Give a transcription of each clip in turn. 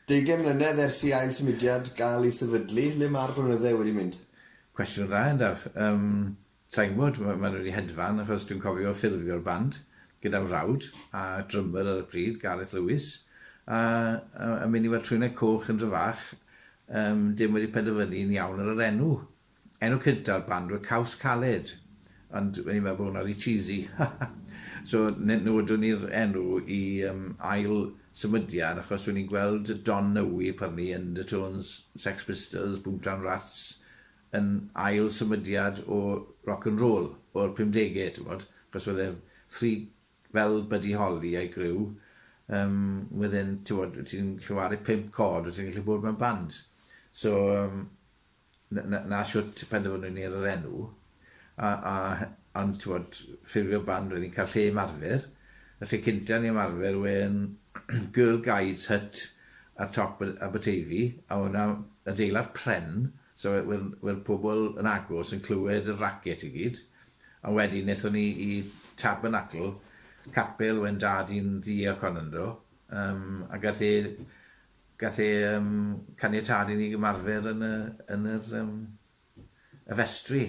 Deugain mlynedd ers i ail symudiad gael ei sefydlu, le mae'r blynydde wedi mynd? Cwestiwn dda yn daf. Yym, sai'n gwybod, ma' ma' nhw wedi hedfan achos dwi'n cofio ffurfio'r band gyda mhrawd a drymyr ar y pryd, Gareth Lewis, a a a mynd i weld Trwynau Coch yn dro fach, yym, dim wedi penderfynu yn iawn ar yr enw Enw cynta'r band oedd Caws Caled, ond o'n i'n meddwl bod hwnna rhy cheesy, so ne- newydon ni'r enw i yym ail symudiad achos o'n i'n gweld Don Nowie, pardon me, Undertones, Sex Pistols, Boomtown Rats yn ail symudiad o rock and roll o'r pumdege, t'mod, achos oedd e three fel Buddy Holly a'i griw, yym wedd e'n, t'mod, ti'n gallu waru pump còd, o' ti'n gallu bod mewn band. So yym 'na shwt penderfynwn ni ar yr enw, a, a, ond t'mod, ffurfio band, rydyn ni'n cael lle ymarfer, y lle cynta ni ymarfer yw e'n Girl Guides Hut ar top Aberteifi, a ma' wnna adeilad pren, so we- we- we'r pobl yn agos yn clywed y racket i gyd, a wedyn nethon ni i Tabernacl, capel wen dad i'n ddu ac on ynddo, yym, ag ath e Gath e yym caniatâd i ni gymarfer yn y yn yr yym y festri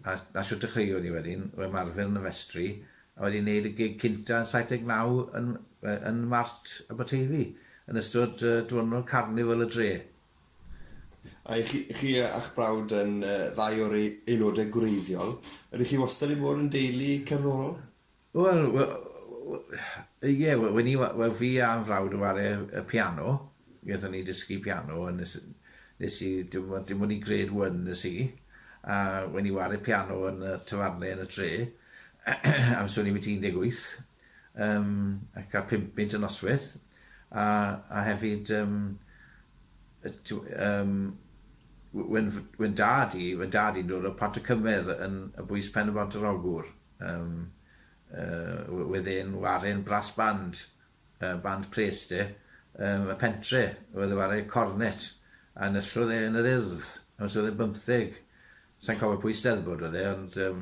a a shwt dechreuon ni wedyn o ymarfer yn y festri a wedyn neud y gig cynta yn 79 yn yy yn Mart Aberteifi yn ystod yy dwrnod carnifal y dre. A y'ch chi chi a'ch brawd yn yy ddau o'r ei- aelode gwreiddiol. Ydych chi wastad 'di bod yn deulu cerddorol? Wel, we- we- we- yy ie, we- wen i wa- wel fi a fy mhrawd yn ware y y piano, nethon ni dysgu piano a nes i nes i dim on- dim ond i grade one es i, a wen i ware piano yn y tafarne yn y dre amser o'n i biti un deg wyth, yym a ca'l pump punt y nosweth, a a hefyd yym yy t'w- yym w- wen f- wen dad i wen dad i'n dod o Pont-y-cymer yn yn bwys Pen-y-bont-yr-Ogwr. Yym yy wedd e'n waren brass band, yy band pres de, yym y pentre, wedd e'n ware cornet, a nyllodd e yn yr Urdd amser oedd e'n bymtheg. Sai'n cofio pwy Steddfod oedd e ond yym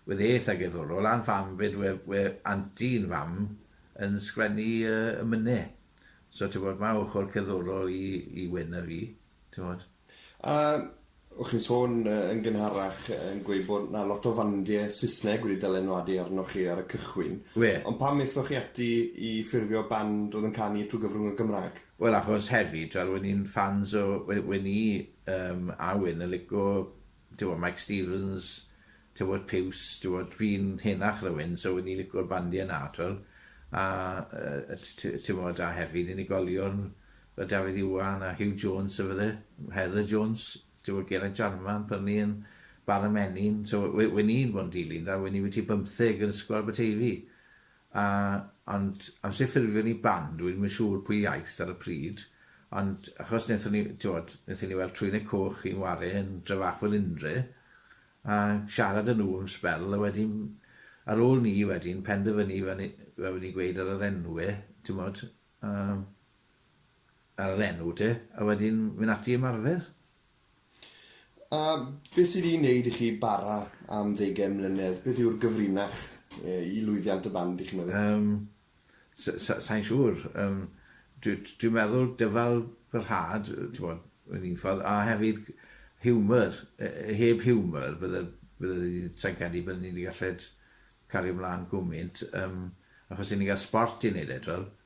wedd e eitha gerddorol a'n fam 'fyd we- we- anti'n fam yn sgwennu yy y mynne. So t'mod ma' ochor cerddorol i i Wyn a fi, t'mod. A o' chi'n sôn yy yn gynharach yn gweud bod 'na lot o fandie Sysneg wedi dylanwadu arnoch chi ar y cychwyn. Wê. Ond pam methoch chi ati i ffurfio band oedd yn canu trwy gyfrwng y Gymraeg? Wel achos hefyd fel wen i'n ffans o we- wen i yym a Wyn yn lico Tibod, Mike Stevens, tibod, Piws, tibod, fi'n henach na wyn, so ni'n licio'r bandiau na, twel. A, tibod, a hefyd unigolion fel Dafydd Iwan a Hugh Jones, so fydde, Heather Jones, tibod, Geraint Jarman, pan ni yn Bala Menyn, so wyn i'n bod yn dilyn da, wyn i wyt ti bymtheg yn ysgol Aberteifi. A, ond amser ffurfio ni band, dwi ddim yn siŵr pwy aeth ar y pryd, ond achos wnaethon ni, timod, wnaethon ni weld Trwyneg Coch yn ware yn Dryfach Felindre, a siarad â nhw am sbel, a wedyn, ar ôl ni wedyn penderfynu, fel ni, fel o'n i'n gweud ar yr enwe, timod, a, ar yr enw te, a wedyn mynd ati i ymarfer. A beth sydd i wneud i chi bara am ddeugain mlynedd? Beth yw'r gyfrinach i lwyddiant y band, dych chi'n meddwl? Yym, sai'n siŵr. Yym, dwi'n meddwl dyfalbarhad, t'mod, yn un ffordd, a hefyd hiwmor. Heb hiwmor, bydde, bydde, sai'n credu bydden ni wedi gallu cario mlan gwmynt, yym, achos 'yn ni'n cael sbort i wneud e, t'wel?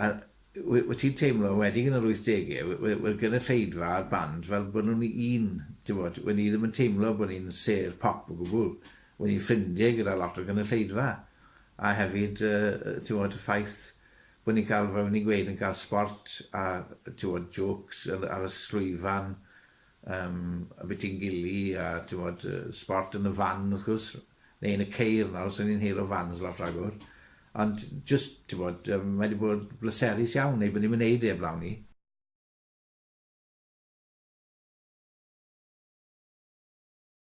A w- wyt ti'n teimlo, enwedig yn yr wythdegau, we- we- wel gynulleidfa a'r band, fel bod nhw'n un, tibod, wen i ddim yn teimlo bod ni'n sêr pop o gwbl. Wen i'n ffrindiau gyda lot o gynulleidfa. A hefyd, yy, yy, tibod, y ffaith bod ni'n cael, fel o'n i'n gweud, yn cael sbort a, tibod, jôcs ar y llwyfan, Yym, abitingili a, t'mod, yy sbort yn y fan, wrth gwrs, neu yn y ceir nawr, so ni'n heuro fans lot ragor. Ond jyst, t'mod, yym, mae 'di bod bleserus iawn, neu bydden ni'm yn neud e 'eblaw 'ny.